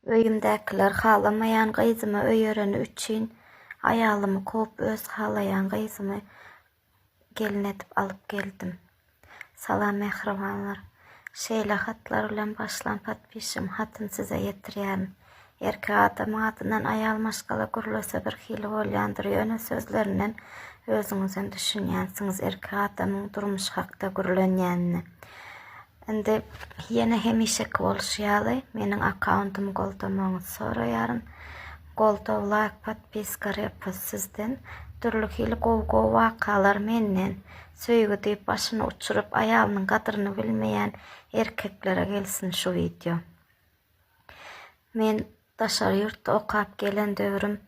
Öýümdäkiler halamaýan gyzymy öýereni üçin aýalymy kowup öz halaýan gyzymy gelin edip alyp geldim. Salam mähribanlar. Şeýle hatlar bilen başlan podpişim hatyny size ýetirýärin. Erkek adamyň adyndan aýal maşgala gürlese birhili bolýandyr ýöne sözlerinden özüňizem düşünýänsiňiz erkek adamyň durmuş hakda gürlenýänine. Indi ýene hemişeki bolşy ýaly meniň akkauntymy goldamagyňyzy soraýaryn. Goldaw, laýk, podpiska, repost sizden, dürli hili gowy gowy wakalar menden. Söýgi diýip başyny uçuryp aýalynyň gadryny bilmeýän erkeklere gelsin şu wideo. Men Daşary ýurtda okap gelen döwrüm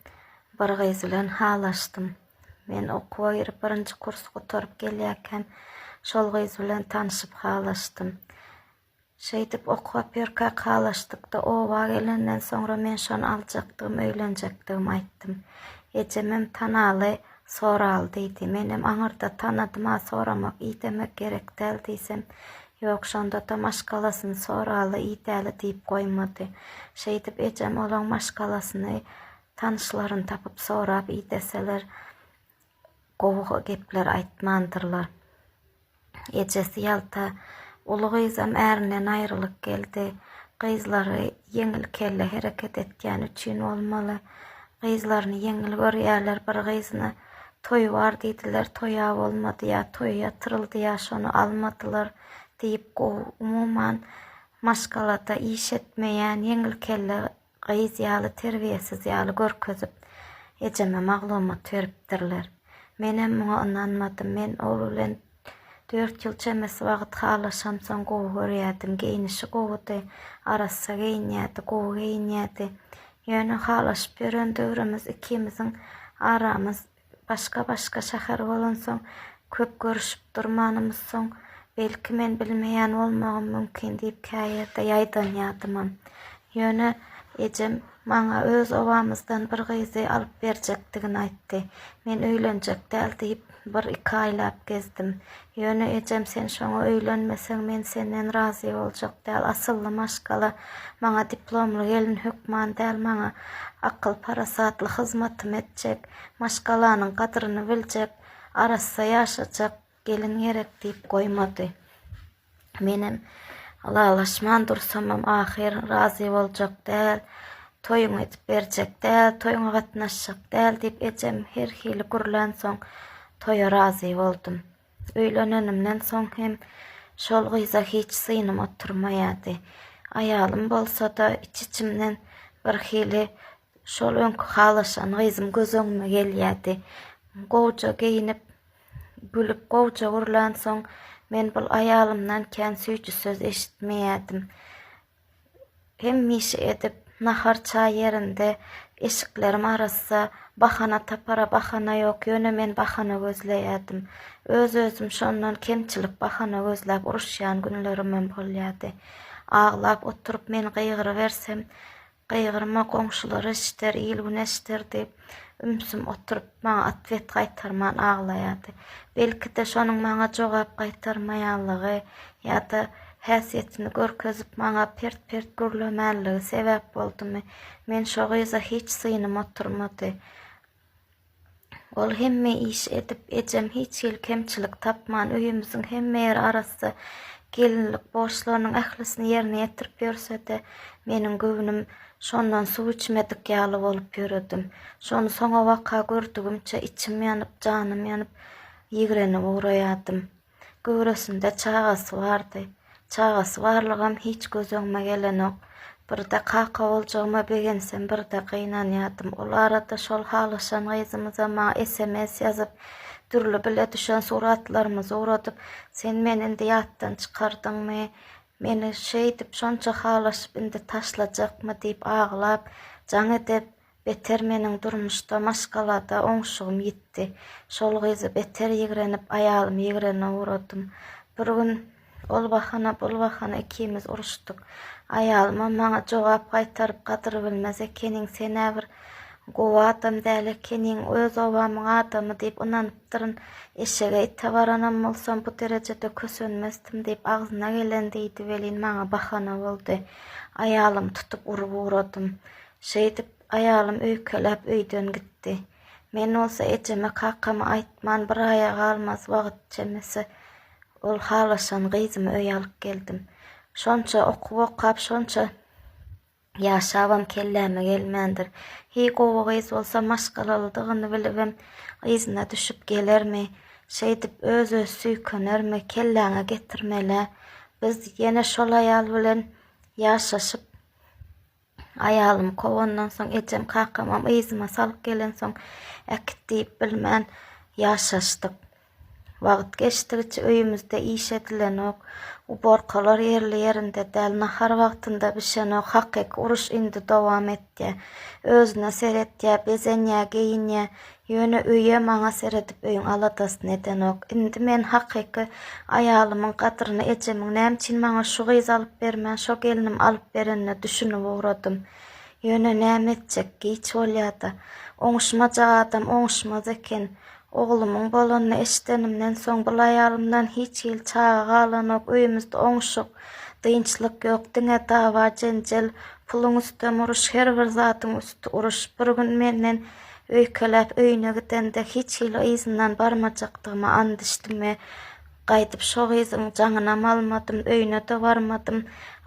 bir gyz bilen halaşdym. Men okuwa girip birinji kursy gutaryp gelýäkäm şol gyz bilen tanşyp halaşdym. Şeýdip okap ýörkäk halaşdykda oba gelenden soňra men şony aljakdygym öýlenjekdigim aýtdym. Ejemem tanaly soraly diýdi. Menem aňyrda tanadym-a soramak idemek gerekdäl diýsem Ýok, şonda-da maşgalasyny soraly, iýdäli diýip goýmady. Şeýdip, ejem olaň maşgalasyny tanyşlaryny tapyp sorap iýdeseler, gowy gepler aýtmandyrlar. Ejesi ýalta. Uly gyzam ärinden aýrylyp geldi. Gyzlary ýeňil kelle hereket etýäni üçin bolmaly, Gyzlaryny ýeňil görýärler, bir gyzyna toý bar diýdiler, toý-a bolmady ýa toý ýatyryldy ýa şony almadylar diýip gowy, umuman maşgalada iş etmeýän ýeňil kelle gyz ýaly terbiýesiz ýaly görkezip ejeme maglumat beripdirler. Menem muňa ynanmadym, men ol bilen Dört ýyl çemesi wagt halaşamsoň gowy görýärdim. Geýnişi gowudy. Arassa geýinýärdi, gowy geýinýärdi. Ýöne halaşyp ýören döwrümiz ikimiziň aramyz başga-başga şäher bolansoň, köp görüşip durmanymyz soň, belki men bilmeýän bolmagym mümkin diýip käýerde ýaýdanýardymam. Ýöne ejem maňa öz obamyzdan bir gyzy alyp berjekdigini aýtdy. Men öýlenjek däl diýip, Bir-iki aýlap gezdim. Ýöne ejem sen şoňa öýlenmeseň men senden razy boljak däl, asylly maşgala maňa diplomly gelin hökman däl, maňa akyl-parasatly hyzmatym etjek, maşgalanyň gadryny biljek, arassa ýaşajak gelin gerek diýip goýmady. Menem ylalaşman dursamam ahyr razy boljak däl, toýuňy edip berjek däl, toýuňa gatnaşjak däl diýip ejem her hili gürlänsoň toýa razy boldum. Öýlenenimden soň hem şol gyza hiç synym oturmaýardy. Aýalym bolsa-da iç-içimden bir hili şol öňki halaşan gyzym göz öňüme gelýärdi. Gowja geýinip, Gülüp gowja gürlänsoň, men bul aýalymdan kän süýji söz eşitmeýärdim. Hemişe edip, nahar-çaý ýerinde, eşiklerim arassa, bahana tapara bahana ýok, ýöne men bahana gözleýärdim. Öz-özüm şondan kemçilik bahana gözläp uruşýan günlerimem bolýardy. Aglap oturyp men gygyrybersem, Gygyrma goňşular eşider, il-gün eşider diýip, ümsüm oturyp, maňa otwet gaýtarman aglaýardy. Belki-de, şonuň maňa jogap gaýtarmaýanlygy ýa-da häsiýetini görkezip, maňa pert-pert gürlemänligi sebäp boldumy, men şo gyza hiç synym oturmady. Ol hemme iş edip, ejem hiç hili kemçilik tapman, öýümiziň hemme ýeri arassa, gelinlik borçlarynyň ählisini ýerine ýetirip ýörse-de, meniň göwnüm şondan suw içmedik ýaly bolup ýöredim. Şony soňabaka gördügimçe içim ýanyp, janym ýanyp, ýigrenip ugraýardym. Göwresinde çagasy bardy. Çagasy barlygam hiç göz öňüme gelenok. Birde kaka boljagyma begensem, birde gynanýardym. Ol arada şol halaşan gyzymyzam maňa sms ýazyp, dürli bile düşen suratlarymyzy ugradyp, Sen meni indi ýatdan çykardyňmy? Meni şeýdip, şonça halaşyp indi taşlajakmy? diýip aglap, jaň edip, Beter meniň durmuşda, maşgalada oňşugym ýitdi. Şol gyzy beter ýigrenip, aýalymy ýigrenene ugradym. Bir gün ol bahana, bul bahana ikimiz uruşdyk. Aýalymam maňa jogap gaýtaryp, Gadyr bilmez ekeniň, sen-ä bir gowy adam däl ekeniň, öz obamyň adamy diýip ynanypdyryn. Eşege, ite baranam bolsam, bu derejede kösenmezdim diýip, agzyna geleni diýdi welin, maňa bahana boldy. Aýalymy tutup urup ugradym. Şeýdip, aýalym öýkeläp öýden gitdi. Men bolsa ejeme kakama aýtman bir aýa galmaz wagt çemesi ol halaşan gyzymy öýe alyp geldim. Şonça okuw okap şonça ýaşabam kelläme gelmändir. Heý gowy gyz bolsa maşgalalydygyny bilibem yzyna düşüp gelermi? Şeýdip öz-öz süýkenermi? Kelläňe getirmelä. Biz ýene şol aýal bilen ýaşaşyp. Aýalymy kowandan soň, ejem, kakamam yzyma salyp gelensoň, äkit diýip bilmän ýaşaşdyk. Wagt geçdigiçe öýümizde iş edilenok, uborkalar ýerli-ýerinde däl, nahar wagtynda bişenok, hakyky uruş indi dowam etýär. Özüne seretýär, bezenýär, geýinýär, Ýöne öýe maňa seredip öýüň aladasyny edenok. Indi men hakyky aýalymyň gadryny ejemiň nämüçin maňa şu gyzy alyp bermän şo gelnim alyp berenine düşünip ugradym. Ýöne näme etjek, giç bolýa-da. Oňuşmajak adam oňuşmaz eken. Oglumyň bolanyny eşidenimden soň bul aýalymdan hiç hili çaga galanok, öýümizde oňuşyk, dynçlyk ýok, diňe dawa-jenjel, puluň üstem uruş, her bir zadyň üsti uruş. Bir gün menden Öýkeläp öýüne gidende hiç hili yzyndan barmajakdygyma and içdim we gaýdyp şo gyzyň jaňynam almadym, öýüne-de barmadym,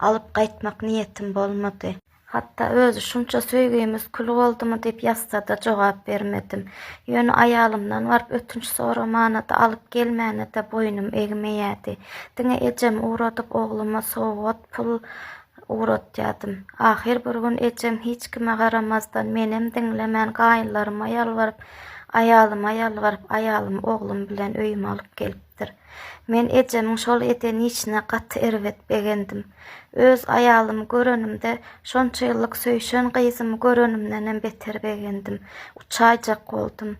alyp gaýtmak niýetim bolmady. Hatda özi şunça söýgimiz kül boldumy diýip ýazsa-da jogap bermedim. Ýöne aýalymdan baryp ötünç soramana-da, alyp gelmäne-de boýnum egmeýärdi. Diňe ejemi ugradyp ogluma sowgat pul ugratýardym. Ahyr bir gün ejem hiç kime garamazdan, menem diňlemän gaýynlaryma ýalbaryp, aýalyma ýalbaryp, aýalymy oglum bilen öýüme alyp gelipdir. Men ejemiň şol eden işine gaty erbet begendim. Öz aýalymy görenimde, şonça ýyllyk söýşen gyzymy görenimdenem beter begendim. Uçaýjak boldum.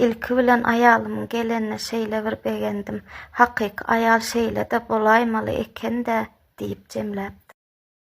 Ilki bilen aýalymyň gelenine şeýle bir begendim. Hakyky aýal şeýle-de bolaýmaly eken-dä diýip jemläpdim.